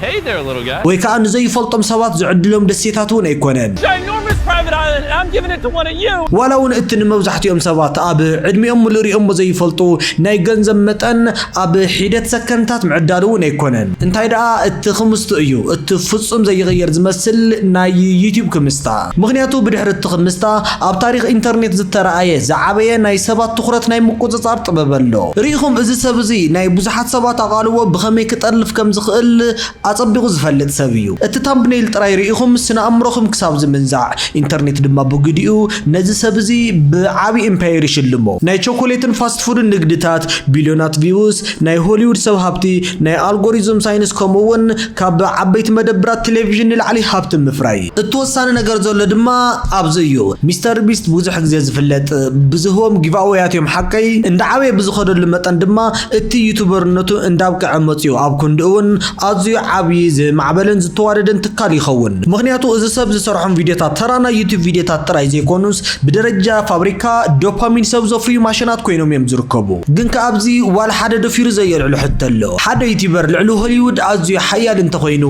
Hey there, little guy. ወይ ከኣ ንዘይፈልጦም ሰባት ዝዕድሎም ደሴታት እውን ኣይኮነን። Ginormous private island, and I'm giving it to one of you! ዋላ እውን እቲ ንመብዛሕትኦም ሰባት ኣብ ዕድሚኦም ሙሉእ ሪኦሞ ዘይፈልጡ ናይ ገንዘብ መጠን ኣብ ሒደት ሰከንድታት ምዕዳል እውን ኣይኮነን። እንታይ ደኣ እቲ ክምስቱ እዩ፣ እቲ ፍጹም ዘይቕየር ዝመስል ናይ ዩቱብ ክምስታ። ምኽንያቱ ብድሕሪ እቲ ክምስታ ኣብ ታሪኽ ኢንተርኔት ዝተራኣየ ዝዓበየ ናይ ሰባት ትኹረት ናይ ምቁጽጻር ጥበብ ኣሎ። ሪኢኹም እዚ ሰብ እዚ ናይ ብዙሓት ሰባት ኣቓልቦ ብኸመይ ክጠልፍ ከም ዝኽእል ኣጸቢቑ ዝፈልጥ ሰብ እዩ። እቲ ታምብነይል ጥራይ ርኢኹም ስነ-ኣእምሮኹም ክሳብ ዝምንዛዕ፣ ኢንተርኔት ድማ ብግዲኡ ነዚ ሰብ እዚ ብዓቢ ኢምፓየር ይሽልሞ። ናይ ቸኮሌትን ፋስት ፉድን ንግድታት፣ ቢልዮናት ቪውስ፣ ናይ ሆሊውድ ሰብ ሃብቲ፣ ናይ ኣልጎሪዝም ሳይንስ ከምኡ'ውን ካብ ዓበይቲ መደብራት ቴሌቪዥን ንላዕሊ ሃብቲ ምፍራይ። እቲ ወሳኒ ነገር ዘሎ ድማ ኣብዚ እዩ። ሚስተር ቢስት ብዙሕ ግዜ ዝፍለጥ ብዝህቦም ጊቭኣወያት እዮም ሓቀይ? እንዳዓበየ ብዝኸደሉ መጠን ድማ እቲ ዩቱበርነቱ እንዳብቅዐ መጺኡ ኣብ ክንድኡ ውን ኣዝዩ ዓብይ ዝማዕበለን ዝተዋደደን ትካል ይኸውን ምኽንያቱ እዚ ሰብ ዝሰርሖም ቪድዮታት ተራ ናይ ዩቱብ ቪድዮታት ጥራይ ዘይኮኑስ ብደረጃ ፋብሪካ ዶፓሚን ሰብ ዘፍርዩ ማሽናት ኮይኖም ዮም ዝርከቡ ግን ከኣ ኣብዚ ዋላ ሓደ ደፊሩ ዘየልዕሎ ሕቶ ኣሎ ሓደ ዩቱበር ልዕሊ ሆሊውድ ኣዝዩ ሓያል እንተኾይኑ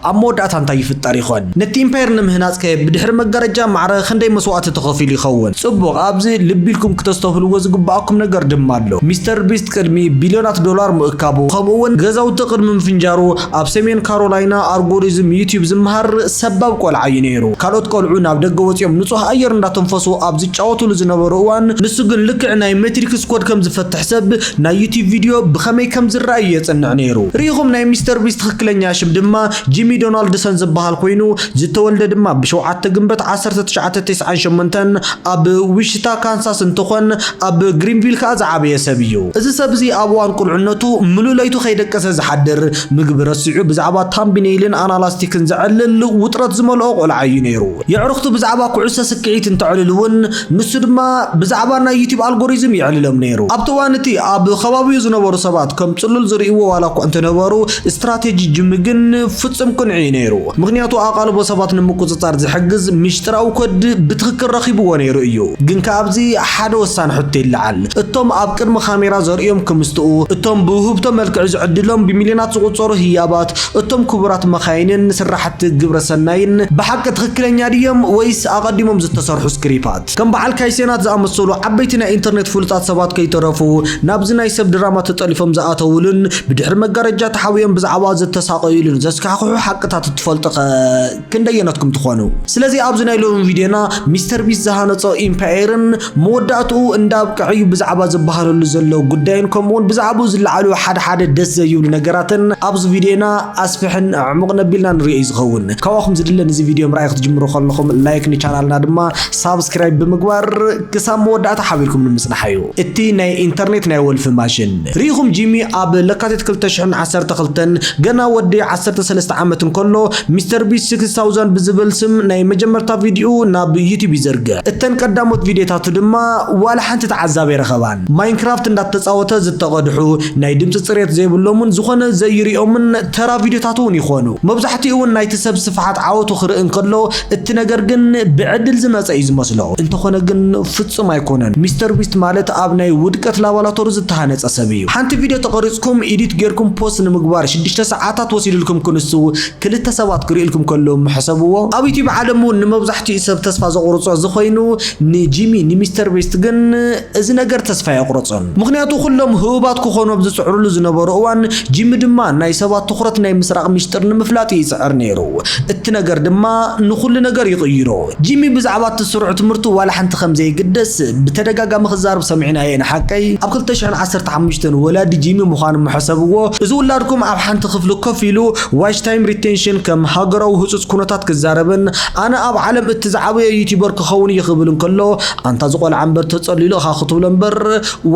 ኣብ መወዳእታ እንታይ ይፍጠር ይኾን ነቲ ኢምፓየር ንምህናጽ ከ ብድሕሪ መጋረጃ ማዕረ ክንደይ መስዋእቲ ተኸፊሉ ይኸውን ጽቡቕ ኣብዚ ልቢ ኢልኩም ክተስተብህልዎ ዝግበኣኩም ነገር ድማ ኣሎ። ኣሎ። ሚስተር ቢስት ቅድሚ ቢልዮናት ዶላር ምእካቡ፣ ከምኡ'ውን ገዛውቲ ቅድሚ ምፍንጃሩ፣ ኣብ ሰሜን ካሮላይና ኣርጎሪዝም ዩትዩብ ዝመሃር ሰባብ ቆልዓ'ዩ ነይሩ። ካልኦት ቆልዑ ናብ ደገ ወጺኦም ንጹህ ኣየር እንዳተንፈሱ ኣብ ዝጫወቱሉ ዝነበሩ እዋን፣ ንሱ ግን ልክዕ ናይ ሜትሪክስ ኮድ ከም ዝፈትሕ ሰብ፣ ናይ ዩትዩብ ቪድዮ ብኸመይ ከም ዝርኣ'ዩ የጽንዕ ነይሩ። ርኢኹም፣ ናይ ሚስተር ቢስት ትኽክለኛ ሽም ድማ ጂሚ ዶናልድሰን ዝበሃል ኮይኑ፣ ዝተወልደ ድማ ብ ሸውዓተ ግንበት ዓሰርተ ትሽዓተ ቴስዓን ሸሞንተን ኣብ ዊሽታ ካንሳስ እንትኾን፣ ኣብ ግሪንቪል ከኣ ዝዓበየ ሰብ እዩ። እዚ ሰብ እዚ ኣብ እዋን ቁልዕነቱ ምሉእ ለይቱ ከይደቀሰ ዝሓድር፣ ምግቢ ረሲዑ ብዛዕባ ታምብኔይልን ኣናላስቲክን ዘዕልል ውጥረት ዝመልኦ ቆልዓ እዩ ነይሩ። የዕሩኽቱ ብዛዕባ ኩዕሶ ስክዒት እንተዕልሉ እውን ንሱ ድማ ብዛዕባ ናይ ዩቲብ ኣልጎሪዝም የዕልሎም ነይሩ። ኣብቲ እዋን እቲ ኣብ ኸባቢኡ ዝነበሩ ሰባት ከም ጽሉል ዝርእይዎ ዋላኳ እንተነበሩ፣ ስትራቴጂ ጂሚ ግን ፍጹም ቅኑዕ እዩ ነይሩ። ምኽንያቱ ኣቓልቦ ሰባት ንምቁጽጻር ዝሕግዝ ሚሽጥራዊ ኮድ ብትኽክል ረኺብዎ ነይሩ እዩ። ግን ከኣ ኣብዚ ሓደ ወሳኒ ሕቶ ይለዓል። እቶም ኣብ ቅድሚ ካሜራ ዘርእዮም ክምስጥኡ፣ እቶም ብውህብቶ መልክዕ ዝዕድሎም ብሚልዮናት ዝቑጸሩ ህያባት፣ እቶም ክቡራት መኻይንን ስራሕቲ ግብረ ሰናይን ብሓቂ ትኽክለኛ ድዮም ወይስ ኣቐዲሞም ዝተሰርሑ ስክሪፓት? ከም በዓል ካይሴናት ዝኣመሰሉ ዓበይቲ ናይ ኢንተርኔት ፍሉጣት ሰባት ከይተረፉ ናብዚ ናይ ሰብ ድራማ ተጠሊፎም ዝኣተውሉን ብድሕሪ መጋረጃ ተሓቢኦም ብዛዕባኡ ዝተሳቐዩሉን ዘስካሕክሑ ሓቅታት እትፈልጡኸ ክንደየነትኩም ትኾኑ? ስለዚ ኣብዚ ናይ ሎሚ ቪድዮና ሚስተር ቢስት ዝሃነጾ ኢምፓየርን መወዳእትኡ እንዳ ኣብቅዐ'ዩ ብዛዕባ ዝበሃለሉ ዘሎ ጉዳይን ከምኡ'ውን ብዛዕብኡ ዝለዓሉ ሓድሓደ ደስ ዘይብሉ ነገራትን ኣብዚ ቪድዮና ኣስፍሕን ኣዕሙቕን ኣቢልና ንሪኦ'ዩ ዝኸውን። ካባኹም ዝድለ ንዚ ቪድዮ ምርኣይ ክትጅምሩ ከለኹም ላይክ ንቻናልና ድማ ሳብስክራይብ ብምግባር ክሳብ መወዳእታ ሓቢርኩም ንምጽናሕ እዩ እቲ ናይ ኢንተርኔት ናይ ወልፊ ማሽን ርኢኹም ጂሚ ኣብ ለካቲት 2012 ገና ወዲ 13 ዓመት እንከሎ ሚስተር ቢስ 6000 ብዝብል ስም ናይ መጀመርታ ቪድዩ ናብ ዩቲብ ይዘርግሕ እተን ቀዳሞት ቪድዮታቱ ድማ ዋላ ሓንቲ ተዓዛቢ ኣይረኸባን ማይንክራፍት እንዳተጻወተ ዝተቐድሑ ናይ ድምፂ ፅሬት ዘይብሎምን ዝኾነ ዘይሪኦምን ተራ ቪድዮታት እውን ይኾኑ። መብዛሕትኡ እውን ናይቲ ሰብ ስፍሓት ዓወቱ ክርኢ እንከሎ፣ እቲ ነገር ግን ብዕድል ዝመጸ እዩ ዝመስሎ። እንተኾነ ግን ፍጹም ኣይኮነን። ሚስተር ቢስት ማለት ኣብ ናይ ውድቀት ላባላቶሪ ዝተሃነጸ ሰብ እዩ። ሓንቲ ቪድዮ ተቐሪጽኩም ኢዲት ጌርኩም ፖስት ንምግባር ሽዱሽተ ሰዓታት ወሲድልኩም ክንሱ ክልተ ሰባት ክርእዩልኩም ከለዉም ሕሰብዎ። ኣብ ዩቱብ ዓለም እውን ንመብዛሕትኡ ሰብ ተስፋ ዘቑርጾ እዚ ኮይኑ ንጂሚ ንሚስተር ቢስት ግን እዚ ነገር ተስፋ ኣየቑረጾን፣ ምኽንያቱ ኩሎም ህቡባት ክኾኑ ኣብ ዝጽዕሩሉ ዝነበሩ እዋን፣ ጂሚ ድማ ናይ ሰባት ትኹረት ናይ ምስራቕ ሚስጢር ንምፍላጥ እዩ ይጽዕር ነይሩ። እቲ ነገር ድማ ንኹሉ ነገር ይቕይሮ። ጂሚ ብዛዕባ እቲ ስሩዕ ትምህርቱ ዋላ ሓንቲ ከም ዘይግደስ ብተደጋጋሚ ክዛረብ ሰሚዕናዮ ኢና፣ ሓቀይ? ኣብ ክልተ ሽሕን ዓሰርተ ሓሙሽተን ወላዲ ጂሚ ምዃኖም ምሐሰብዎ፣ እዚ ውላድኩም ኣብ ሓንቲ ክፍሊ ኮፍ ኢሉ ዋች ታይም ሪቴንሽን ከም ሃገራዊ ህጹጽ ኩነታት ክዛረብን ኣነ ኣብ ዓለም እቲ ዝዓበየ ዩቱበር ክኸውን እየ ክብል እንከሎ ኣንታ እዚ ቆልዓ እምበር ተጸሊሉ እኻ ክትብሎ እምበር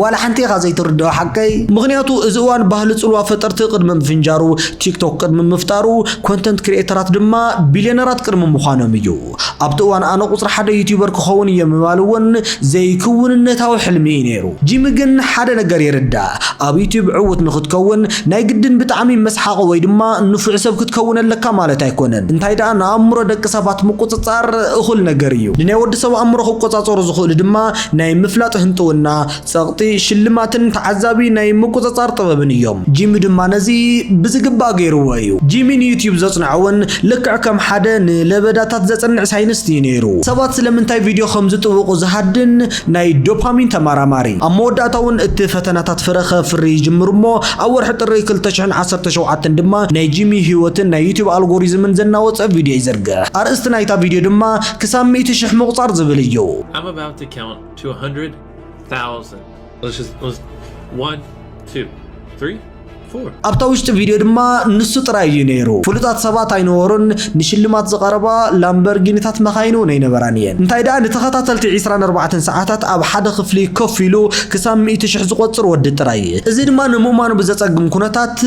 ዋላ ሓንቲ ኢኻ ዘይትርድኦ ሓቀይ ምኽንያቱ እዚ እዋን ባህሊ ጽልዋ ፈጠርቲ ቅድሚ ምፍንጃሩ ቲክቶክ ቅድሚ ምፍጣሩ ኮንተንት ክሪኤተራት ድማ ቢልዮነራት ቅድሚ ምዃኖም እዩ ኣብቲ እዋን ኣነ ቁጽሪ ሓደ ዩቲበር ክኸውን እየ ምባል እውን ዘይክውንነታዊ ሕልሚ እዩ ነይሩ ጂሚ ግን ሓደ ነገር ይርዳእ ኣብ ዩቲብ ዕውት ንኽትከውን ናይ ግድን ብጣዕሚ መስሓቒ ወይ ድማ ንፉዕ ሰብ ክትከውን ኣለካ ማለት ኣይኮነን፣ እንታይ ደኣ ንኣእምሮ ደቂ ሰባት ምቁጽጻር እኹል ነገር እዩ። ንናይ ወዲ ሰብ ኣእምሮ ክቆጻጸሩ ዝኽእሉ ድማ ናይ ምፍላጥ ህንጥውና፣ ጸቕጢ፣ ሽልማትን ተዓዛቢ ናይ ምቁጽጻር ጥበብን እዮም። ጂሚ ድማ ነዚ ብዝግባእ ገይርዎ እዩ። ጂሚ ንዩትዩብ ዘጽንዖ እውን ልክዕ ከም ሓደ ንለበዳታት ዘጽንዕ ሳይንስት እዩ ነይሩ። ሰባት ስለምንታይ ቪድዮ ከም ዝጥውቑ ዝሃድን፣ ናይ ዶፓሚን ተመራማሪ። ኣብ መወዳእታ እውን እቲ ፈተናታት ፍረ ከፍሪ ይጅምር እሞ ኣብ ወርሒ ጥሪ ክልተ ሽሕን ዓሰርተ ሸውዓተን ድማ ናይ ጂሚ ህይወትን ናይ ዩቱብ ኣልጎሪዝምን ዘናወጸ ቪድዮ ይዝርግሕ። ኣርእስቲ ናይታ ቪድዮ ድማ ክሳብ ሚእቲ ሽሕ ምቑጻር ዝብል እዩ። I'm about to count to a hundred thousand. Let's just, let's, one, two, three. ኣብታ ውሽጢ ቪድዮ ድማ ንሱ ጥራይ እዩ ነይሩ። ፍሉጣት ሰባት ኣይነበሩን፣ ንሽልማት ዝቐረባ ላምበርጊኒታት መካይን እውን ኣይነበራን እየን። እንታይ ደኣ ንተኸታተልቲ ዕስራን ኣርባዕተን ሰዓታት ኣብ ሓደ ክፍሊ ኮፍ ኢሉ ክሳብ ሚእቲ ሽሕ ዝቖጽር ወዲ ጥራይ። እዚ ድማ ንምእማኑ ብዘጸግም ኩነታት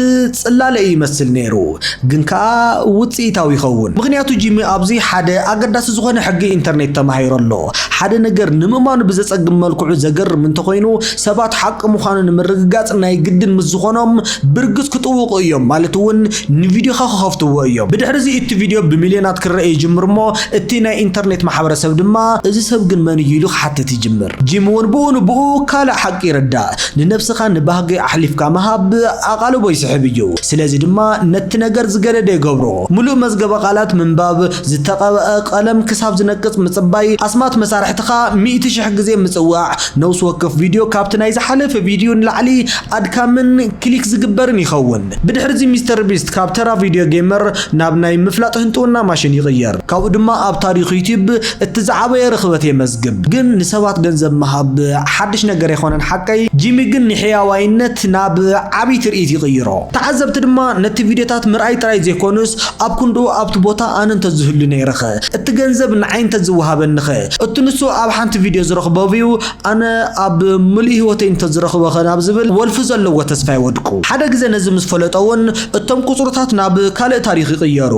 ጽላለ እዩ ይመስል ነይሩ፣ ግን ከኣ ውጽኢታዊ ይኸውን፣ ምኽንያቱ ጂሚ ኣብዚ ሓደ ኣገዳሲ ዝኾነ ሕጊ ኢንተርኔት ተማሂሩ ኣሎ። ሓደ ነገር ንምእማኑ ብዘጸግም መልክዑ ዘገርም እንተኾይኑ፣ ሰባት ሓቂ ምዃኑ ንምርግጋጽ ናይ ግድን ምስ ዝኾኖም፣ ብርግጽ ክጥውቑ እዮም፣ ማለት እውን ንቪድዮኻ ክኸፍትዎ እዮም። ብድሕርዚ እቲ ቪድዮ ብሚልዮናት ክርኣ ይጅምር እሞ እቲ ናይ ኢንተርኔት ማሕበረሰብ ድማ፣ እዚ ሰብ ግን መን እዩ ኢሉ ክሓትት ይጅምር። ጂም እውን ብኡ ንብኡ ካልእ ሓቂ ይርዳእ፣ ንነብስኻ ንባህጊ ኣሕሊፍካ ምሃብ ኣቓልቦ ይስሕብ እዩ፣ ስለዚ ድማ ነቲ ነገር ዝገደደ ይገብሮ። ምሉእ መዝገበ ቃላት ምንባብ፣ ዝተቐብኣ ቀለም ክሳብ ዝነቅጽ ምጽባይ፣ ኣስማት መሳርሕትኻ ሚእቲ ሽሕ ግዜ ምጽዋዕ፣ ነውሲ ወከፍ ቪድዮ ካብቲ ናይ ዝሓለፈ ቪድዩ ንላዕሊ ኣድካምን ክሊክ ዝግበርን ይኸውን። ብድሕሪዚ ሚስተር ቢስት ካብ ተራ ቪድዮ ጌመር ናብ ናይ ምፍላጥ ህንጥውና ማሽን ይቕየር። ካብኡ ድማ ኣብ ታሪኽ ዩትዩብ እቲ ዝዓበየ ርኽበት የመዝግብ። ግን ንሰባት ገንዘብ ምሃብ ሓድሽ ነገር ኣይኮነን ሓቀይ፣ ጂሚ ግን ንሕያዋይነት ናብ ዓቢ ትርኢት ይቕይሮ። ተዓዘብቲ ድማ ነቲ ቪድዮታት ምርኣይ ጥራይ ዘይኮኑስ ኣብ ክንድኡ ኣብቲ ቦታ ኣነ እንተዝህሉ ነይረኸ? እቲ ገንዘብ ንዓይ እንተዝወሃበኒኸ? እቲ ንሱ ኣብ ሓንቲ ቪድዮ ዝረኽቦ ቪው ኣነ ኣብ ምሉእ ህይወተይ እንተዝረኽቦኸ ናብ ዝብል ወልፊ ዘለዎ ተስፋ ይወድቁ። ሓደ ግዘ ነዚ ምስ ፈለጠ'ውን እቶም ቁጽርታት ናብ ካልእ ታሪኽ ይቕየሩ።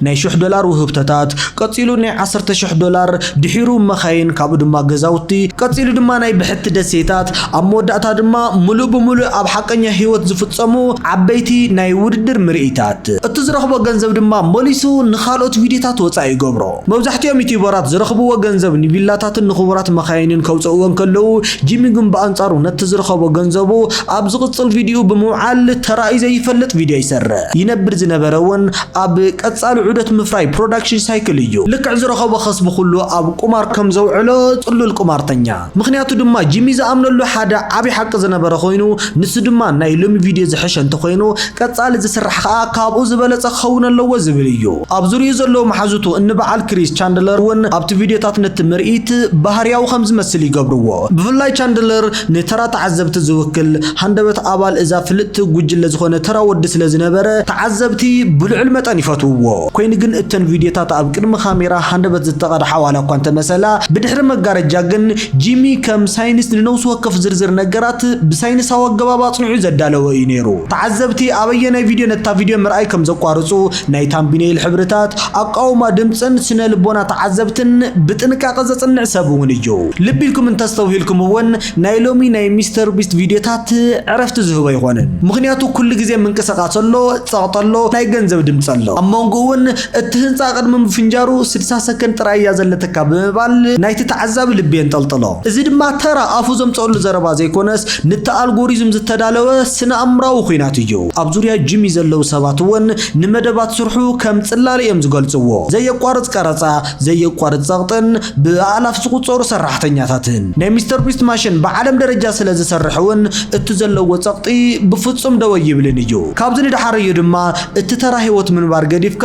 ናይ ሽሕ ዶላር ውህብቶታት፣ ቀጺሉ ናይ ዓሰርተ ሽሕ ዶላር፣ ድሒሩ መኻይን ካብኡ ድማ ገዛውቲ፣ ቀጺሉ ድማ ናይ ብሕቲ ደሴታት፣ ኣብ መወዳእታ ድማ ምሉእ ብምሉእ ኣብ ሓቀኛ ህይወት ዝፍጸሙ ዓበይቲ ናይ ውድድር ምርኢታት። ይሓትት። እቲ ዝረኽቦ ገንዘብ ድማ መሊሱ ንኻልኦት ቪድዮታት ወጻኢ ይገብሮ። መብዛሕትኦም ዩትዩበራት ዝረኽብዎ ገንዘብ ንቪላታትን ንኽቡራት መኻይንን ከውጽእዎ እንከለዉ፣ ጂሚ ግን ብኣንጻሩ ነቲ ዝረኸቦ ገንዘቡ ኣብ ዝቕጽል ቪድዮኡ ብምውዓል ተራእዩ ዘይፈልጥ ቪድዮ ይሰርሕ። ይነብር ዝነበረ እውን ኣብ ቀጻሊ ዑደት ምፍራይ ፕሮዳክሽን ሳይክል እዩ። ልክዕ ዝረኸቦ ከስቢ ኩሉ ኣብ ቁማር ከም ዘውዕሎ ጽሉል ቁማርተኛ። ምኽንያቱ ድማ ጂሚ ዝኣምነሉ ሓደ ዓቢ ሓቂ ዝነበረ ኮይኑ ንሱ ድማ ናይ ሎሚ ቪድዮ ዝሐሸ እንተኾይኑ ቀጻሊ ዝስራሕ ኸኣ ካብኡ ዝበለጸ ክኸውን ኣለዎ ዝብል እዩ። ኣብ ዙርይኡ ዘለዉ መሓዙቱ እኒ በዓል ክሪስ ቻንድለር እውን ኣብቲ ቪድዮታት ነቲ ምርኢት ባህርያዊ ከም ዝመስል ይገብርዎ። ብፍላይ ቻንድለር ንተራ ተዓዘብቲ ዝውክል ሃንደበት ኣባል እዛ ፍልጥቲ ጉጅለ ዝኾነ ተራ ወዲ ስለ ዝነበረ ተዓዘብቲ ብልዑል መጠን ይፈትውዎ። ኮይኑ ግን እተን ቪድዮታት ኣብ ቅድሚ ካሜራ ሃንደበት ዝተቐድሓ ዋላ እኳ እንተመሰላ፣ ብድሕሪ መጋረጃ ግን ጂሚ ከም ሳይንስ ንነብሲ ወከፍ ዝርዝር ነገራት ብሳይንሳዊ ኣገባብ ኣጽኒዑ ዘዳለወ እዩ ነይሩ። ተዓዘብቲ ኣብ ኣየናይ ቪድዮ ነታ ቪድዮ ምርኣይ ከም ዘቋርጹ፣ ናይ ታምቢነይል ሕብርታት፣ ኣቃውማ ድምጽን ስነ-ልቦና ተዓዘብትን ብጥንቃቐ ዘጽንዕ ሰብ እውን እዩ። ልቢ ኢልኩም እንተስተውሂልኩም እውን፣ ናይ ሎሚ ናይ ሚስተር ቢስት ቪድዮታት ዕረፍቲ ዝህቦ ኣይኮነን ምኽንያቱ ኩሉ ግዜ ምንቅስቃስ ኣሎ ጸቕጢ ኣሎ ናይ ገንዘብ ድምጺ ኣሎ ኣብ መንጎ እውን እቲ ህንጻ ቅድሚ ምፍንጃሩ ስድሳ ሰከንድ ጥራይ እያ ዘለትካ ብምባል ናይቲ ተዓዛቢ ልቢ የንጠልጥሎ እዚ ድማ ተራ ኣፉ ዘምጸኣሉ ዘረባ ዘይኮነስ ንቲ ኣልጎሪዝም ዝተዳለወ ስነኣእምራዊ ኹናት እዩ ኣብ ዙርያ ጂሚ ዘለዉ ሰባት እውን ንመደባት ስርሑ ከም ጽላለ እዮም ዝገልጽዎ ዘየቋርጽ ቀረጻ ዘየቋርጽ ጸቕጥን ብኣእላፍ ዝቑጸሩ ሰራሕተኛታትን። ናይ ሚስተር ቢስት ማሽን ብዓለም ደረጃ ስለ ዝሰርሕ እውን እቲ ዘለዎ ጸቕጢ ብፍጹም ደው ኣይብልን እዩ። ካብዚ ንደሓር እዩ ድማ እቲ ተራ ህይወት ምንባር ገዲፍካ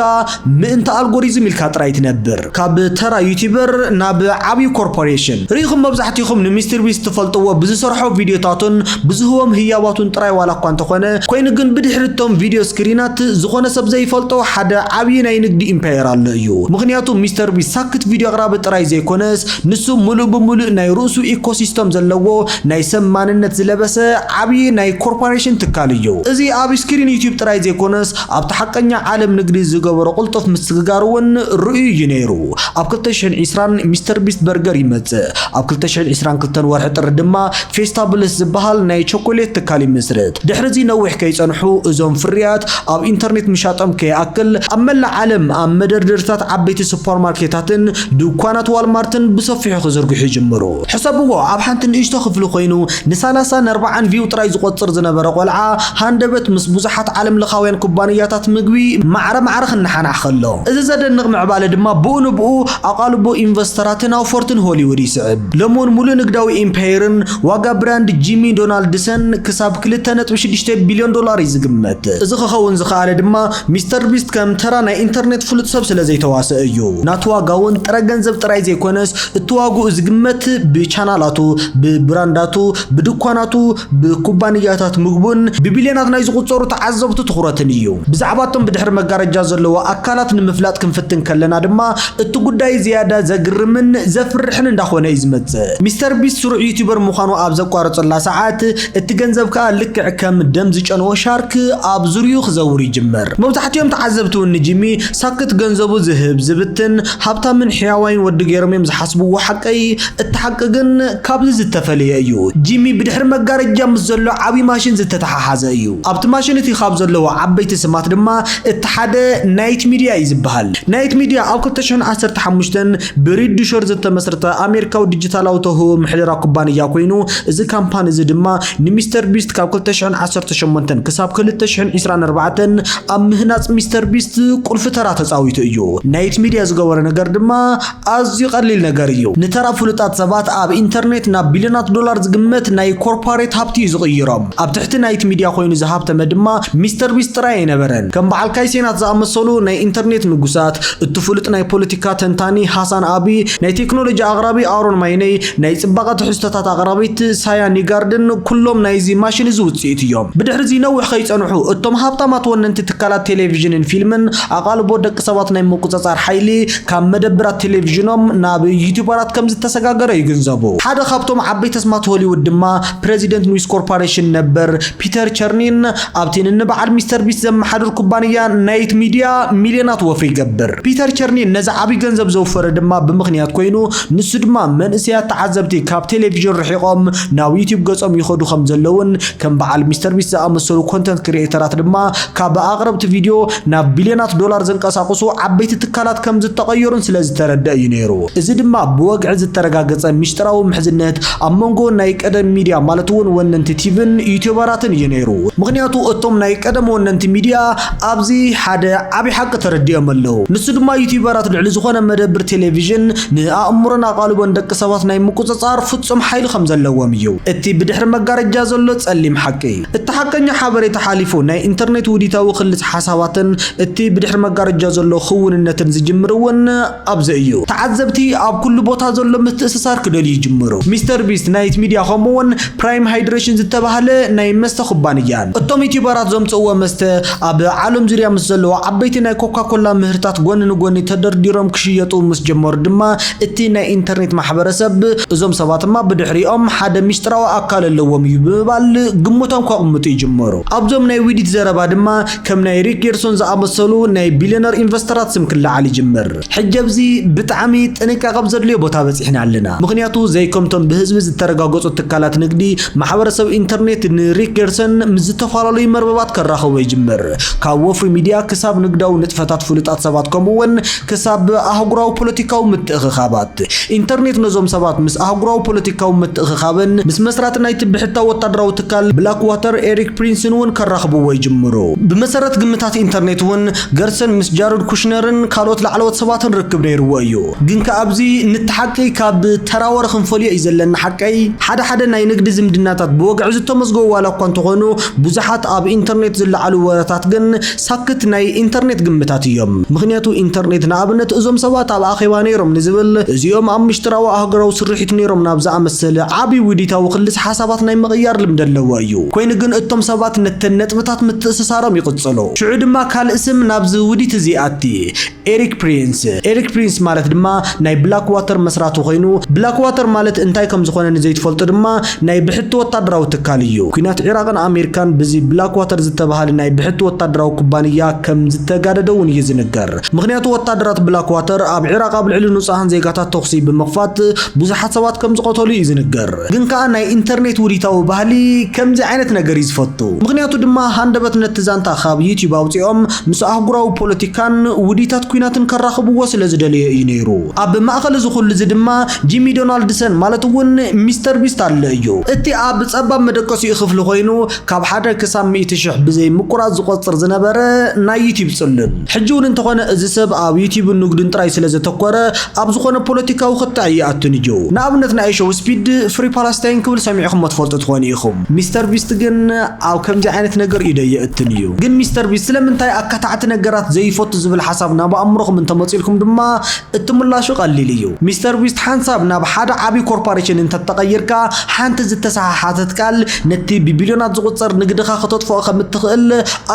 ምእንቲ ኣልጎሪዝም ኢልካ ጥራይ ትነብር። ካብ ተራ ዩቲበር ናብ ዓብዩ ኮርፖሬሽን። ርኢኹም መብዛሕቲኹም ንሚስተር ቢስት ትፈልጥዎ ብዝሰርሖ ቪድዮታቱን ብዝህቦም ህያባቱን ጥራይ ዋላ እኳ እንተኾነ፣ ኮይኑ ግን ብድሕሪ እቶም ቪድዮ ስክሪናት ዝኾነ ሰብ ዘይፈልጦ ሓደ ዓብዪ ናይ ንግዲ ኢምፓየር ኣሎ እዩ። ምኽንያቱ ሚስተር ቢስት ሳክት ቪድዮ ኣቕራቢ ጥራይ ዘይኮነስ ንሱ ምሉእ ብምሉእ ናይ ርእሱ ኢኮሲስተም ዘለዎ ናይ ሰብ ማንነት ዝለበሰ ዓብዪ ናይ ኮርፓሬሽን ትካል እዩ። እዚ ኣብ ስክሪን ዩትዩብ ጥራይ ዘይኮነስ ኣብቲ ሓቀኛ ዓለም ንግዲ ዝገበሮ ቅልጡፍ ምስግጋር እውን ርኡይ እዩ ነይሩ። ኣብ ክልተ ሽሕን ዒስራን ሚስተር ቢስት በርገር ይመጽእ። ኣብ ክልተ ሽሕን ዒስራን ክልተን ወርሒ ጥሪ ድማ ፌስታብልስ ዝበሃል ናይ ቸኮሌት ትካል ይምስርት። ድሕሪ'ዚ ነዊሕ ከይጸንሑ እዞም ፍርያት ኣብ ኢንተርኔት ምሻጦም ከይኣክል ኣብ መላእ ዓለም ኣብ መደርደሪታት ዓበይቲ ሱፐርማርኬታትን ድኳናት ዋልማርትን ብሰፊሑ ክዝርግሑ ይጅምሩ። ሕሰብዎ፣ ኣብ ሓንቲ ንእሽቶ ክፍሊ ኮይኑ ንሳላሳን ኣርባዓን ቪው ጥራይ ዝቖጽር ዝነበረ ቆልዓ ሃንደበት ምስ ብዙሓት ዓለምለኻውያን ኩባንያታት ምግቢ ማዕረ ማዕረ ክነሓናሕ ከሎ። እዚ ዘደንቕ ምዕባለ ድማ ብኡንብኡ ኣቓልቦ ኢንቨስተራትን ኣውፈርትን ሆሊውድ ይስዕብ። ለሞን ሙሉእ ንግዳዊ ኢምፓየርን ዋጋ ብራንድ ጂሚ ዶናልድሰን ክሳብ ክልተ ነጥቢ ሽዱሽተ ቢልዮን ዶላር እዩ ዝግመት። እዚ ክኸውን ዝኸኣለ ድማ ሚስተር ቢስት ከም ተራ ናይ ኢንተርኔት ፍሉጥ ሰብ ስለ ዘይተዋሰኣ እዩ። ናቱ ዋጋ እውን ጥረ ገንዘብ ጥራይ ዘይኮነስ እቲ ዋግኡ ዝግመት ብቻናላቱ፣ ብብራንዳቱ፣ ብድኳናቱ፣ ብኩባንያታት ምግቡን ብቢልዮናት ናይ ዝቑጸሩ ተዓዘብቱ ትኹረትን እዩ። ብዛዕባ እቶም ብድሕሪ መጋረጃ ዘለዉ ኣካላት ንምፍላጥ ክንፍትን ከለና ድማ እቲ ጉዳይ ዝያዳ ዘግርምን ዘፍርሕን እንዳኾነ እዩ ዝመጽእ። ሚስተር ቢስት ስሩዕ ዩቱበር ምዃኑ ኣብ ዘቋረጸላ ሰዓት እቲ ገንዘብ ከኣ ልክዕ ከም ደም ዝጨነወ ሻርክ ኣብ ዙርይኡ ክዘውር ይጅምር። መብዛሕቲኦም ተዓዘብቲ እውን ንጂሚ ሳክት ገንዘቡ ዝህብ፣ ዝብትን፣ ሃብታምን ሕያዋይን ወዲ ገይሮም እዮም ዝሓስብዎ። ሓቀይ? እቲ ሓቂ ግን። ካብዚ ዝተፈለየ እዩ። ጂሚ ብድሕሪ መጋረጃ ምስ ዘሎ ዓብዪ ማሽን ዝተተሓሓዘ እዩ። ኣብቲ ማሽን እቲ ካብ ዘለዉ ዓበይቲ ስማት ድማ እቲ ሓደ ናይት ሚድያ እዩ ዝበሃል። ናይት ሚድያ ኣብ ክልተ ሽሕን ዓሰርተ ሓሙሽተን ብሪድ ዱሸር ዝተመስረተ ኣሜሪካዊ ዲጂታላዊ ተውህቦ ምሕደራ ኩባንያ ኮይኑ እዚ ካምፓኒ እዚ ድማ ንሚስተር ቢስት ካብ ክልተ ሽሕን ዓሰርተ ሸሞንተን ክሳብ ክልተ ሽሕን ዒስራን ኣርባዕተን ኣብ ምህናፅ ሚስተር ቢስት ቁልፊ ተራ ተፃዊቱ እዩ። ናይት ሚድያ ዝገበሮ ነገር ድማ ኣዝዩ ቀሊል ነገር እዩ። ንተራ ፍሉጣት ሰባት ኣብ ኢንተርኔት ናብ ቢልዮናት ዶላር ዝግመት ናይ ኮርፓሬት ሃብቲ እዩ ዝቕይሮም። ኣብ ትሕቲ ናይቲ ሚድያ ኮይኑ ዝሃብተመ ድማ ሚስተር ቢስት ጥራይ ኣይነበረን። ከም በዓል ካይ ሴናት ዝኣመሰሉ ናይ ኢንተርኔት ንጉሳት፣ እቱ ፍሉጥ ናይ ፖለቲካ ተንታኒ ሃሳን ኣቢ፣ ናይ ቴክኖሎጂ ኣቕራቢ ኣሮን ማይነይ፣ ናይ ጽባቐ ትሕዝቶታት ኣቕራቢት ሳያ ኒጋርድን ኩሎም ናይዚ ማሽን እዚ ውጽኢት እዮም። ብድሕሪዚ ነዊሕ ከይጸንሑ እቶም ሃብታማት ወነንቲ ትካላት ቴሌቪዥንን ፊልምን ኣቓልቦ ደቂ ሰባት ናይ ምቁጽጻር ሓይሊ ካብ መደብራት ቴሌቪዥኖም ናብ ዩቱበራት ከምዝተሰጋገረ ይግንዘቡ። ሓደ ካብቶም ዓበይቲ ኣስማት ሆሊውድ ድማ ፕረዚደንት ኑይስ ኮርፓሬሽን ነበር ፒተር ቸርኒን ኣብቲ ንንበዓል ሚስተር ቢስት ዘመሓድር ኩባንያ ናይት ሚድያ ሚልዮናት ወፍሪ ይገብር። ፒተር ቸርኒን ነዚ ዓብዪ ገንዘብ ዘውፈረ ድማ ብምኽንያት ኮይኑ ንሱ ድማ መንእሰያት ተዓዘብቲ ካብ ቴሌቪዥን ርሒቖም ናብ ዩቱብ ገፆም ይኸዱ ከምዘለውን ከም በዓል ሚስተር ቢስት ዝኣመሰሉ ኮንተንት ክሪኤተራት ድማ ካብ ኣቕረብቲ ቪድዮ ናብ ቢልዮናት ዶላር ዘንቀሳቕሱ ዓበይቲ ትካላት ከም ዝተቐየሩን ስለ ዝተረድኣ እዩ ነይሩ። እዚ ድማ ብወግዒ ዝተረጋገጸ ሚስጢራዊ ምሕዝነት ኣብ መንጎ ናይ ቀደም ሚድያ ማለት'ውን ወነንቲ ቲቪን ዩትዩበራትን እዩ ነይሩ። ምኽንያቱ እቶም ናይ ቀደም ወነንቲ ሚድያ ኣብዚ ሓደ ዓቢ ሓቂ ተረዲኦም ኣለዉ። ንሱ ድማ ዩትዩበራት ልዕሊ ዝኾነ መደብር ቴሌቪዥን ንኣእምሮን ኣቓልቦን ደቂ ሰባት ናይ ምቁጽጻር ፍጹም ሓይሊ ከም ዘለዎም እዩ። እቲ ብድሕሪ መጋረጃ ዘሎ ጸሊም ሓቂ። እቲ ሓቀኛ ሓበሬታ ሓሊፉ፣ ናይ ኢንተርኔት ውዲታዊ ክልሰ ሓሳባትን እቲ ብድሕሪ መጋረጃ ዘሎ ክውንነትን ዝጅምር እውን ኣብዚ እዩ። ተዓዘብቲ ኣብ ኩሉ ቦታ ዘሎ ምትእስሳር ክደልዩ ይጅምሩ። ሚስተር ቢስት ናይት ሚድያ ከምኡ እውን ፕራይም ሃይድረሽን ዝተባህለ ናይ መስተ ኩባንያን እቶም ዩቲዩበራት ዘምጽእዎ መስተ ኣብ ዓለም ዙርያ ምስ ዘለዉ ዓበይቲ ናይ ኮካ ኮላ ምህርታት ጎኒ ንጎኒ ተደርዲሮም ክሽየጡ ምስ ጀመሩ ድማ እቲ ናይ ኢንተርኔት ማሕበረሰብ፣ እዞም ሰባትማ ብድሕሪኦም ሓደ ሚስጥራዊ ኣካል ኣለዎም እዩ ብምባል ግምቶም ከቕምጡ ይጅምሩ። ኣብዞም ናይ ዊዲት ዘረባ ድማ ከም ናይ ሪክ ጌርሶን ዝኣመሰሉ ናይ ቢልዮነር ኢንቨስተራት ስም ክለዓል ይጅምር። ሕጂ ኣብዚ ብጣዕሚ ጥንቃቐ ኣብ ዘድልዮ ቦታ በጺሕና ኣለና። ምኽንያቱ ዘይከምቶም ብህዝቢ ዝተረጋገጹ ትካላት ንግዲ፣ ማሕበረሰብ ኢንተርኔት ንሪክ ጌርሶን ምስ ዝተፈላለዩ መርበባት ከራኽቦ ይጅምር። ካብ ወፍሪ ሚዲያ ክሳብ ንግዳዊ ንጥፈታት ፍሉጣት ሰባት ከምኡ'ውን ክሳብ ኣህጉራዊ ፖለቲካዊ ምትእኽኻባት። ኢንተርኔት ነዞም ሰባት ምስ ኣህጉራዊ ፖለቲካዊ ምትእኽኻብን ምስ መስራቲ ናይቲ ብሕታዊ ወታደራዊ ትካል ብላክዋተር ኤሪክ ፕሪንስን እውን ከራኽብዎ ይጅምሩ። ብመሰረት ግምታት ኢንተርኔት እውን ገርሰን ምስ ጃረድ ኩሽነርን ካልኦት ላዕለዎት ሰባትን ርክብ ነይርዎ እዩ። ግን ከኣ ኣብዚ ንቲ ሓቂ ካብ ተራ ወረ ክንፈልዮ እዩ ዘለና ሓቀይ። ሓደ ሓደ ናይ ንግዲ ዝምድናታት ብወግዒ ዝተመዝገቡ ዋላ እኳ እንተኾኑ ብዙሓት ኣብ ኢንተርኔት ዝለዓሉ ወረታት ግን ሳክት ናይ ኢንተርኔት ግምታት እዮም ምክንያቱ ኢንተርኔት ንኣብነት እዞም ሰባት ኣብ ኣኼባ ነይሮም ንዝብል እዚኦም ኣብ ምሽጥራዊ ኣህጉራዊ ስርሒት ነይሮም ናብ ዝኣመሰለ ዓቢ ውዲታዊ ክልሰ ሓሳባት ናይ ምቕያር ልምዲ ኣለዎ እዩ ኮይኑ ግን እቶም ሰባት ነተን ነጥብታት ምትእስሳሮም ይቕጽሉ ሽዑ ድማ ካልእ ስም ናብዚ ውዲት እዚ ይኣቲ ኤሪክ ፕሪንስ፣ Eric Prince፣ ማለት ድማ ናይ ብላክዋተር መስራቲ ኮይኑ፣ ብላክዋተር ማለት እንታይ ከም ዝኾነ ንዘይትፈልጡ ድማ ናይ ብሕቲ ወታደራዊ ትካል እዩ። ኲናት ዒራቕን ኣሜሪካን ብዚ ብላክዋተር ዝተበሃለ ናይ ብሕቲ ወታደራዊ ኩባንያ ከም ዝተጋደደ እውን እዩ ዝንገር። ምኽንያቱ ወታደራት ብላክዋተር ኣብ ዒራቕ ኣብ ልዕሊ ንጹሃን ዜጋታት ተኹሲ ብምኽፋት ብዙሓት ሰባት ከም ዝቐተሉ እዩ ዝንገር። ግን ከኣ ናይ ኢንተርኔት ውዲታዊ ባህሊ ከምዚ ዓይነት ነገር እዩ ዝፈቱ። ምኽንያቱ ድማ ሃንደበት ነቲ ዛንታ ካብ ዩትዩብ ኣውጺኦም ምስ ኣህጉራዊ ፖለቲካን ውዲታት ኲናትን ከራኽብዎ ስለ ዝደለዮ እዩ ነይሩ። ኣብ ማእከል እዚ ኹሉ እዚ ድማ ጂሚ ዶናልድሰን ማለት እውን ሚስተር ቢስት ኣሎ እዩ። እቲ ኣብ ጸባብ መደቀሲኡ ክፍሊ ኮይኑ ካብ ሓደ ክሳብ ሚእቲ ሽሕ ብዘይ ምቁራጽ ዝቆጽር ዝነበረ ናይ ዩትዩብ ጽሉል። ሕጂ እውን እንተኾነ እዚ ሰብ ኣብ ዩትዩብን ንግዱን ጥራይ ስለ ዘተኮረ ኣብ ዝኾነ ፖለቲካዊ ክትዕ ኣይኣቱን እዩ። ንኣብነት ናይ ሾው ስፒድ ፍሪ ፓላስታይን ክብል ሰሚዕኹሞ ትፈልጡ ትኾኑ ኢኹም። ሚስተር ቢስት ግን ኣብ ከምዚ ዓይነት ነገር ኢደይ የእትን እዩ። ግን ሚስተር ቢስት ስለምንታይ ኣካታዕቲ ነገራት ዘይፈቱ ዝብል ሓሳብ ናብ ኣእምሮኹም እንተመጺኡልኩም ድማ እቲ ምላሹ ቀሊል እዩ። ሚስተር ቢስት ሓንሳብ ናብ ሓደ ዓቢ ኮርፓሬሽን እንተተቐይርካ ሓንቲ ዝተሰሓሓተት ቃል ነቲ ብቢልዮናት ዝቑጸር ንግድኻ ክተጥፍኦ ከም እትኽእል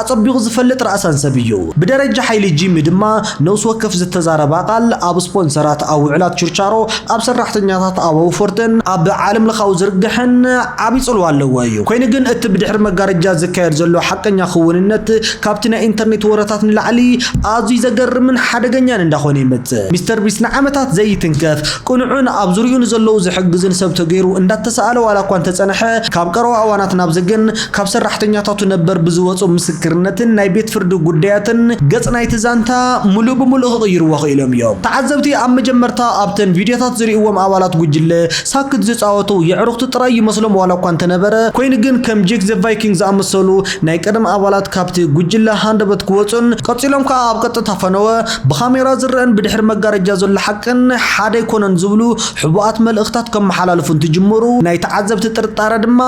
ኣጸቢቑ ዝፈልጥ ራእሳን ሰብ እዩ። ብደረጃ ሓይሊ ጂሚ ድማ ነብሲ ወከፍ ዝተዛረባ ቃል ኣብ ስፖንሰራት ኣብ ውዕላት ችርቻሮ ኣብ ሰራሕተኛታት ኣብ ኣውፈርትን ኣብ ዓለም ለኻዊ ዝርግሐን ዓቢ ጽልዋ ኣለዎ እዩ። ኮይኑ ግን እቲ ብድሕሪ መጋረጃ ዝካየድ ዘሎ ሓቀኛ ክውንነት ካብቲ ናይ ኢንተርኔት ወረታት ንላዕሊ ኣዝዩ ዘገርምን ሓደገኛን እንዳኾነ ይመጽእ። ሚስተር ቢስት ንዓመታት ዘይትንከፍ ቅኑዕን ኣብ ዙርይኡ ንዘለዉ ዝሕግዝን ሰብ ተገይሩ እንዳተሳእለ ዋላ እኳ እንተጸንሐ ካብ ቀረባ እዋናት ናብዚ ግን ካብ ሰራሕተኛታቱ ነበር ብዝወጹ ምስክርነትን ናይ ቤት ፍርዲ ጉዳያትን ገጽ ናይቲ ዛንታ ምሉእ ብምሉእ ክቕይርዎ ክኢሎም እዮም። ተዓዘብቲ ኣብ መጀመርታ ኣብተን ቪድዮታት ዝርእይዎም ኣባላት ጉጅለ ሳክት ዝጻወቱ የዕሩኽቲ ጥራይ ይመስሎም ዋላ እኳ እንተነበረ፣ ኮይኑ ግን ከም ጄክ ዘ ቫይኪንግ ዝኣመሰሉ ናይ ቀደም ኣባላት ካብቲ ጉጅለ ሃንደበት ክወጹን ቀጺሎም ከኣ ኣብ ቀጥታ ፈነወ ብካሜራ ዝረኣን ብድሕሪ መጋረጃ ዘሎ ሓቅን ሓደ ኣይኮነን ዝብሉ ሕቡኣት መልእኽታት ከመሓላልፉ እንትጅምሩ ናይ ተዓዘብቲ ጥርጣረ ድማ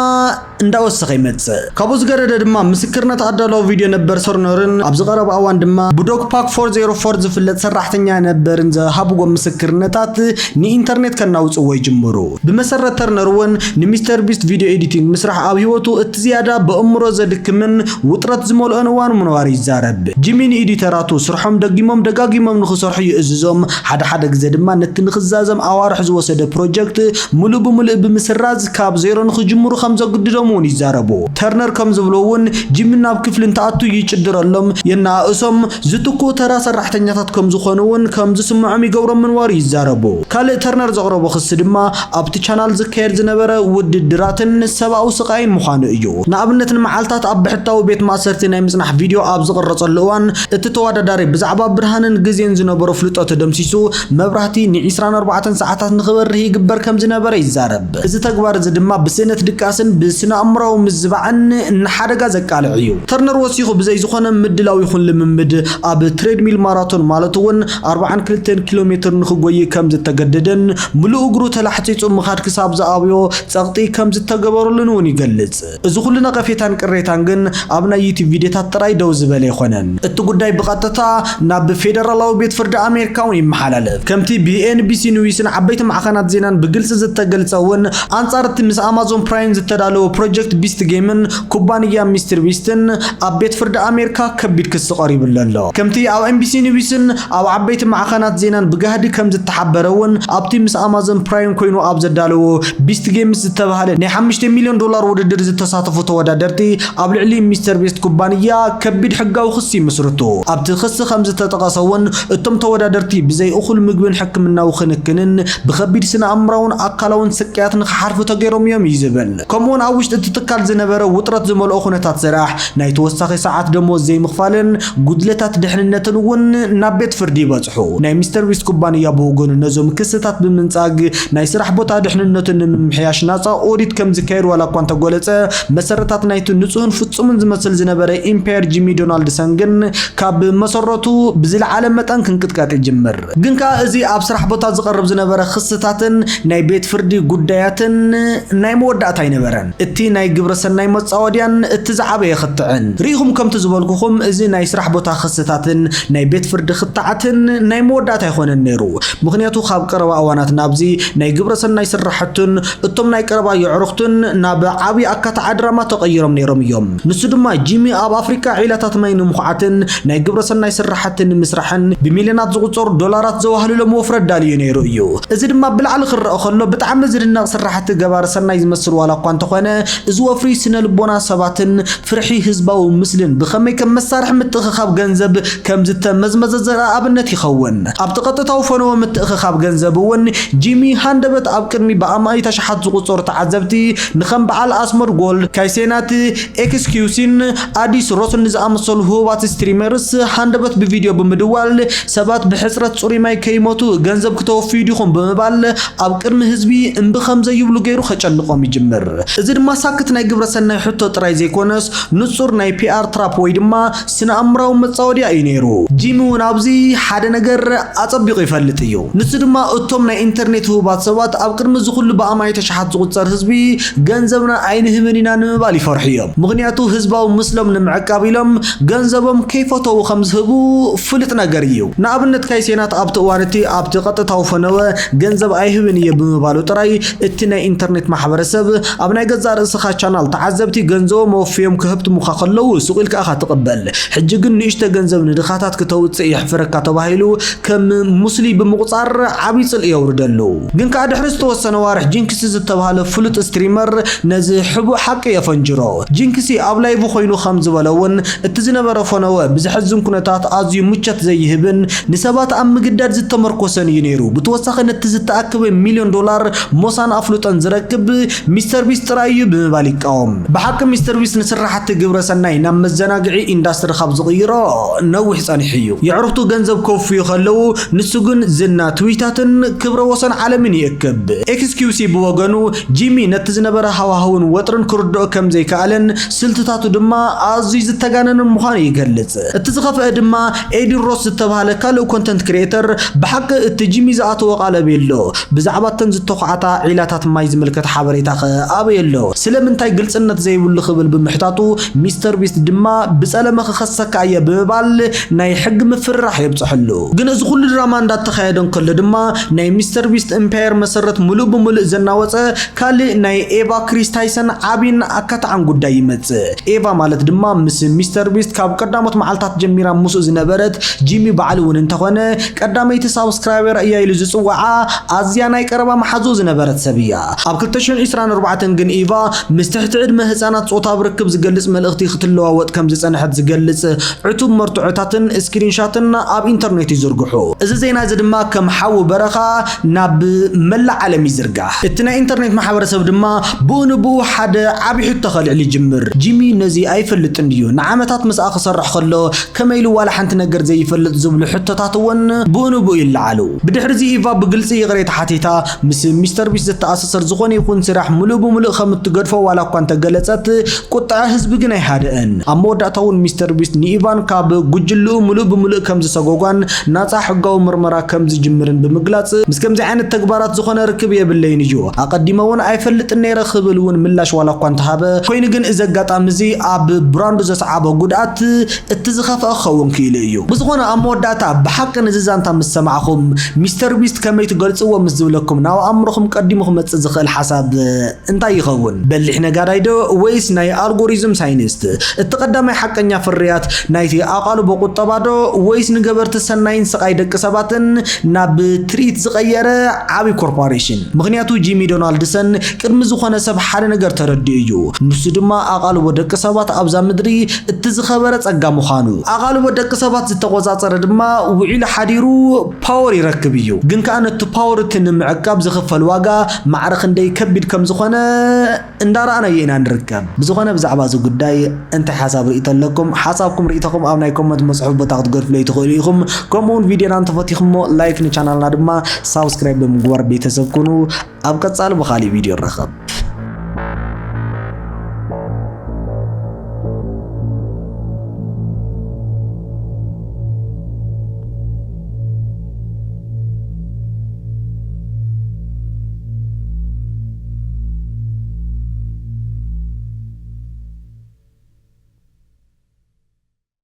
እንዳወሰኸ ይመጽእ። ካብኡ ዝገደደ ድማ ምስክርነት ኣዳላዊ ቪድዮ ነበር ሰርኖርን ኣብዚ ቀረባ እዋን ድማ ብዶክፓክ ፎር ዜሮ ፎር ዝፍለጥ ሰራሕተኛ ነበርን ዝሃብዎም ምስክርነታት ንኢንተርኔት ከናውጽዎ ይጅምሩ። ብመሰረት ተርነር'ውን ንሚስተር ቢስት ቪድዮ ኤዲቲንግ ምስራሕ ኣብ ህይወቱ እቲ ዝያዳ በእምሮ ዘድክምን ውጥረት ዝመልኦን እዋን ምንባሩ ይዛረብ። ጂሚ ንኢዲተራቱ ስርሖም ደጊሞም ደጋጊሞም ንኽሰርሑ ይእዝዞም፣ ሓደ ሓደ ግዘ ድማ ነቲ ንኽዛዘም ኣዋርሕ ዝወሰደ ፕሮጀክት ምሉእ ብምሉእ ብምስራዝ፣ ካብ ዜሮ ንኽጅምሩ ከም ዘግድዶም እውን ይዛረቡ። ተርነር ከም ዝብሎ እውን ጂሚ ናብ ክፍሊ እንትኣቱ ይጭድረሎም፣ የነኣእሶም፣ ዝትክኡ ተራ ሰራሕተኛታት ከም ዝኾኑ እውን ከም ዝስምዖም ይገብሮም ምንባሩ ይዛረቡ። ካልእ ተርነር ዘቕረቦ ክሲ ድማ ኣብቲ ቻናል ዝካየድ ዝነበረ ውድድራትን ሰብኣዊ ስቓይን ምዃኑ እዩ። ንኣብነት ንመዓልታት ኣብ ብሕታዊ ቤት ማእሰርቲ ናይ ምጽናሕ ቪድዮ ኣብ ዝቕረጸሉ እዋን እቲ ተወዳዳሪ ብዛዕባ ብርሃንን ግዜን ዝነበሮ ፍልጦት ደምሲሱ መብራህቲ ንዒስራን ኣርባዕተን ሰዓታት ንኽበርህ ይግበር ከም ዝነበረ ይዛረብ። እዚ ተግባር እዚ ድማ ብስእነት ድቃስን ብስነኣእምሮኣዊ ምዝባዕን ንሓደጋ ዘቃልዕ እዩ። ተርነር ወሲኹ ብዘይ ዝኾነ ምድላው ይኹን ልምምድ ኣብ ትሬድሚል ማራቶን ማለት እውን ኣርብዓን ክልተን ኪሎ ሜትር ንኽጎዪ ከም ዝተገደደን ምሉእ እግሩ ተላሕጺጹ ምኻድ ክሳብ ዝኣብዮ ጸቕጢ ከም ዝተገበረሉን እውን ይገልጽ። እዚ ኩሉ ነቐፌታን ቅሬታን ግን ኣብ ናይ ዩቱብ ቪድዮታት ጥራይ ደው ዝበለ ኣይኮነን። እቲ ጉዳይ ብቐጥታ ናብ ፌደራላዊ ቤት ፍርዲ ኣሜሪካ እውን ይመሓላለፍ። ከምቲ ብኤንቢሲ ኒውስን ዓበይቲ ማዕኸናት ዜናን ብግልጺ ዝተገልጸ እውን፣ ኣንጻር እቲ ምስ ኣማዞን ፕራይም ዝተዳለወ ፕሮጀክት ቢስት ጌምን ኩባንያ ሚስትር ቢስትን ኣብ ቤት ፍርዲ ኣሜሪካ ከቢድ ክሲ ቀሪቡሉ ኣሎ። ከምቲ ኣብ ኤንቢሲ ኒውስን ኣብ ዓበይቲ ማዕኸናት ዜናን ብጋህዲ ከም ዝተሓበረ እውን ኣብቲ ምስ ኣማዞን ፕራይም ኮይኑ ኣብ ዘዳለዎ ቢስት ጌምስ ዝተባህለ ናይ ሓሙሽተ ሚልዮን ዶላር ውድድር ዝተሳተፉ ተወዳደርቲ ኣብ ልዕሊ ሚስተር ቤስት ኩባንያ ከቢድ ሕጋዊ ክሲ ይምስርቱ። ኣብቲ ክሲ ከም ዝተጠቐሰ እውን እቶም ተወዳደርቲ ብዘይ እኹል ምግብን ሕክምናዊ ክንክንን ብከቢድ ስነ-ኣእምራውን ኣካላውን ስቅያት ንክሓልፉ ተገይሮም እዮም እዩ ዝብል። ከምኡውን ኣብ ውሽጢ እቲ ትካል ዝነበረ ውጥረት ዝመልኦ ኩነታት ስራሕ፣ ናይ ተወሳኺ ሰዓት ደሞዝ ዘይምኽፋልን፣ ጉድለታት ድሕንነትን እውን ናብ ቤት ፍርዲ ይበጽሑ። ናይ ሚስተር ዊስት ኩባንያ ብወገኑ ነዞም ክስታት ብምንጻግ ናይ ስራሕ ቦታ ድሕንነቱ ንምምሕያሽ ናጻ ኦዲት ከም ዝካየድ ዋላ እኳ እንተጎለጸ መሰረታት ናይቲ ንጹህን ፍጹምን ዝመስል ዝነበረ ኢምፓየር ጂሚ ዶናልድሰን ግን ካብ መሰረቱ ብዝለዓለ መጠን ክንቅጥቀጥ ይጅምር። ግን ከኣ እዚ ኣብ ስራሕ ቦታ ዝቐርብ ዝነበረ ክስታትን ናይ ቤት ፍርዲ ጉዳያትን ናይ መወዳእታ ኣይነበረን። እቲ ናይ ግብረ ሰናይ መጻወድያን እቲ ዝዓበየ ክትዕን። ርኢኹም ከምቲ ዝበልኩኹም እዚ ናይ ስራሕ ቦታ ክስታትን ናይ ቤት ፍርዲ ክትዓትን ናይ መወዳእታ ኣይኮነን ነይሩ ምኽንያቱ ካብ ቀረባ እዋናት ናብዚ ናይ ግብረ ሰናይ ስራሕቱን እቶም ናይ ቀረባ የዕሩኽቱን ናብ ዓብይ ኣካታዓ ድራማ ተቐይሮም ነይሮም እዮም ንሱ ድማ ጂሚ ኣብ ኣፍሪቃ ዒላታት ማይ ንምኹዓትን ናይ ግብረ ሰናይ ስራሕቲ ንምስራሕን ብሚልዮናት ዝቑጸሩ ዶላራት ዘዋህልሎም ወፍሪ ኣዳልዩ ነይሩ እዩ እዚ ድማ ብላዕሊ ክረኣ ከሎ ብጣዕሚ ዝድነቕ ስራሕቲ ገባሪ ሰናይ ዝመስል ዋላ እኳ እንተኾነ፣ እዚ ወፍሪ ስነ ልቦና ሰባትን ፍርሒ ህዝባዊ ምስልን ብኸመይ ከም መሳርሒ ምትእኽኻብ ገንዘብ ከም ዝተመዝመዘ ዘርኢ ኣብነት ይኸውን። ኣብቲ ቀጥታዊ ፈነወ ምትእኽኻብ ገንዘብ እውን ጂሚ ሃንደበት ኣብ ቅድሚ ብኣማኢት ኣሽሓት ዝቑጸሩ ተዓዘብቲ ንከም በዓል ኣስሞድ ጎልድ፣ ካይሴናት ኤክስኪውሲን ኣዲስ ሮስን ንዝኣመሰሉ ህቡባት ስትሪመርስ ሃንደበት ብቪድዮ ብምድዋል ሰባት ብሕጽረት ጽሩይ ማይ ከይሞቱ ገንዘብ ክተወፍዩ ዲኹም ብምባል ኣብ ቅድሚ ህዝቢ እምቢ ከም ዘይብሉ ገይሩ ከጨንቖም ይጅምር። እዚ ድማ ሳክት ናይ ግብረ ሰናይ ሕቶ ጥራይ ዘይኮነስ ንጹር ናይ ፒኣር ትራፕ ወይ ድማ ስነ-ኣእምራዊ መጻወድያ እዩ ነይሩ። ጂሚ እውን ኣብዚ ሓደ ነገር ኣጸቢቑ ይፈልጥ እዩ። ንሱ ድማ እቶም ናይ ኢንተርኔት ህቡባት ሰባት ኣብ ቅድሚ እዚ ኩሉ ብኣማኢት ኣሽሓት ዝቑጸር ህዝቢ ገንዘብና ኣይንህብን ኢና ንምባል ይፈርሑ እዮም። ምኽንያቱ ህዝባዊ ምስሎም ንምዕቃብ ኢሎም ገንዘቦም ከይፈተዉ ከም ዝህቡ ፍሉጥ ነገር እዩ። ንኣብነት ካይሴናት ኣብቲ እዋን እቲ ኣብቲ ቀጥታዊ ፈነወ ገንዘብ ኣይህብን እየ ብምባሉ ጥራይ እቲ ናይ ኢንተርኔት ማሕበረሰብ ኣብ ናይ ገዛእ ርእስኻ ቻናል ተዓዘብቲ ገንዘቦም ኣወፍዮም ክህብትሙኻ ከለዉ ሱቕ ኢልካ ኢኻ ትቕበል ሕጂ ግን ንእሽቶ ገንዘብ ንድኻታት ክተውጽእ የሕፍረካ ተባሂሉ ከም ሙስሊ ብምቑጻር ዓቢ ጽልኢ የውርደሉ። ግን ከኣ ድሕሪ ዝተወሰነ ኣዋርሕ ጂንክስ ዝተባህለ ፍሉጥ ስትሪመር ነዚ ሕቡእ ሓቂ የፈንጅሮ። ጂንክሲ ኣብ ላይቭ ኮይኑ ከም ዝበሎ እውን፣ እቲ ዝነበረ ፈነወ ብዘሕዝን ኩነታት ኣዝዩ ምቾት ዘይህብን ንሰባት ኣብ ምግዳድ ዝተመርኮሰን እዩ ነይሩ። ብተወሳኺ ነቲ ዝተኣከበ ሚልዮን ዶላር ሞሳን ኣፍልጦን ዝረክብ ሚስተር ቢስት ጥራይ እዩ ብምባል ይቃወም። ብሓቂ ሚስተር ቢስት ንስራሕቲ ግብረ ሰናይ ናብ መዘናግዒ ኢንዳስትሪ ካብ ዝቕይሮ ነዊሕ ጸኒሑ እዩ። የዕሩኽቱ ገንዘብ ከውፍዩ ከለዉ፣ ንሱ ግን ዝና፣ ትዊታትን ክብረ ወሰን ዓለምን ይእክብ። ኤክስኪውሲ ብወገኑ፣ ጂሚ ነቲ ዝነበረ ሃዋህውን ወጥርን ክርድኦ ከም ዘይከኣለን ስልትታቱ ድማ ኣዝዩ ዝተጋነነን ምዃኑ ይገልጽ። እቲ ዝኸፍኣ ድማ ኤዲ ሮስ ዝተባህለ ካልእ ኮንተንት ክሪኤተር ብሓቂ እቲ ጂሚ ዝኣተዎ ቃል ኣበይ ኣሎ? ብዛዕባ እተን ዝተዃዕታ ዒላታት ማይ ዝምልከት ሓበሬታኸ ኣበይ ኣሎ? ስለምንታይ ግልጽነት ዘይብሉ ክብል ብምሕታቱ ሚስተር ቢስት ድማ ብጸለመ ክኸሰካ እየ ብምባል ናይ ሕጊ ምፍርራሕ የብጽሐሉ። ግን እዚ ኩሉ ድራማ እንዳተኻየደ እንከሎ ድማ ናይ ሚስተር ቢስት እምፓየር መሰረት ምሉእ ብምሉእ ዘናወጸ ካልእ ናይ ኤቫ ክሪስ ታይሰን ዓቢን ኣካታዕን ጉዳይ ይመጽእ። ኤቫ ማለት ድማ ምስ ሚስተር ቢስት ካብ ቀዳሞት መዓልታት ጀሚራ ምስኡ ዝነበረት ጂሚ ባዕሉ እውን እንተኾነ ቀዳመይቲ ሳብስክራይበር እያ ኢሉ ዝጽውዓ ኣዝያ ናይ ቀረባ መሓዝኡ ዝነበረት ሰብ እያ። ኣብ ክልተ ሽሕን ዒስራን ኣርባዕተን ግን ኢቫ ምስ ትሕቲ ዕድመ ህጻናት ጾታዊ ርክብ ዝገልጽ መልእኽቲ ክትለዋወጥ ከም ዝጸንሐት ዝገልጽ ዕቱብ መርትዖታትን ስክሪንሻትን ኣብ ኢንተርኔት ይዝርግሑ። እዚ ዜና እዚ ድማ ከም ሓዊ በረኻ ናብ መላእ ዓለም ይዝርጋሕ። እቲ ናይ ኢንተርኔት ማሕበረሰብ ድማ ብኡ ንብኡ ሓደ ዓቢ ሕቶ ከልዕል ይጅምር፣ ጂሚ ነዚ ኣይፈልጥን ድዩ? ንዓመታት ምስኣ ክሰርሕ ከሎ ከመይ ኢሉ ዋላ ሓንቲ ነገር ዘይፈልጥ? ዝብሉ ሕቶታት እውን ብኡ ንብኡ ይለዓሉ። ብድሕሪዚ ኢቫ ብግልጺ ይቕሬታ ሓቲታ፣ ምስ ሚስተር ቢስት ዝተኣሳሰር ዝኾነ ይኹን ስራሕ ምሉእ ብምሉእ ከም እትገድፎ ዋላ እኳ እንተገለጸት፣ ቁጥዐ ህዝቢ ግን ኣይሃደአን። ኣብ መወዳእታ እውን ሚስተር ቢስት ንኢቫን ካብ ጉጅልኡ ምሉእ ብምሉእ ከም ዝሰጎጓን ናጻ ሕጋዊ ምርመራ ከም ዝጅምርን ብምግላጽ፣ ምስ ከምዚ ዓይነት ተግባራት ዝኾነ ርክብ የብለይን እዩ፣ ኣቐዲመ እውን ኣይፈልጥን ነይረ ክብል እውን ምላሽ ዋላ እኳ እንተሃበ፣ ኮይኑ ግን እዚ ኣጋጣሚ እዚ ኣብ ብራንዱ ዘስዓቦ ጉድኣት፣ እቲ ዝኸፍኣ ክኸውን ክኢሉ እዩ። ብዝኾነ ኣብ መወዳእታ ብሓቂ ነዚ ዛንታ ምስ ሰማዕኹም ሚስተር ቢስት ከመይ ትገልጽዎ ምስ ዝብለኩም ናብ ኣእምሮኹም ቀዲሙ ክመጽእ ዝኽእል ሓሳብ እንታይ ይኸውን? በሊሕ ነጋዳይ ዶ ወይስ ናይ ኣልጎሪዝም ሳይንስት? እቲ ቀዳማይ ሓቀኛ ፍርያት ናይቲ ኣቓልቦ ቁጠባ ዶ ወይስ ንገበርቲ ሰናይን ስቓይ ደቂ ሰባትን ናብ ትርኢት ዝቐየረ ዓቢ ኮርፓሬሽን? ምኽንያቱ ጂሚ ዶናልድሰን ቅድሚ ዝኾነ ሰብ ሓደ ነገር ተረዲኡ እዩ። ንሱ ድማ ኣቓልቦ ደቂ ሰባት ኣብዛ ምድሪ እቲ ዝኸበረ ጸጋ ምዃኑ፣ ኣቓልቦ ደቂ ሰባት ዝተቖጻጸረ ድማ ውዒሉ ሓዲሩ ፓወር ይረክብ እዩ። ግን ከኣ ነቲ ፓወር እቲ ንምዕቃብ ዝኽፈል ዋጋ ማዕረ ክንደይ ከቢድ ከም ዝኾነ እንዳ ረኣናዮ ኢና ንርከብ። ብዝኾነ ብዛዕባ እዚ ጉዳይ እንታይ ሓሳብ ርእይቶ ኣለኩም? ሓሳብኩም ርእይቶኹም ኣብ ናይ ኮመንት መጽሑፍ ቦታ ክትገድፍለይ ትኽእሉ ኢኹም። ከምኡ ውን ቪድዮና እንተፈቲኹሞ ላይክ ንቻናልና ድማ ሳብስክራይብ ብምግባር ቤተሰብ ኩኑ። ኣብ ቀጻሊ ብኻሊእ ቪድዮ ንራኸብ።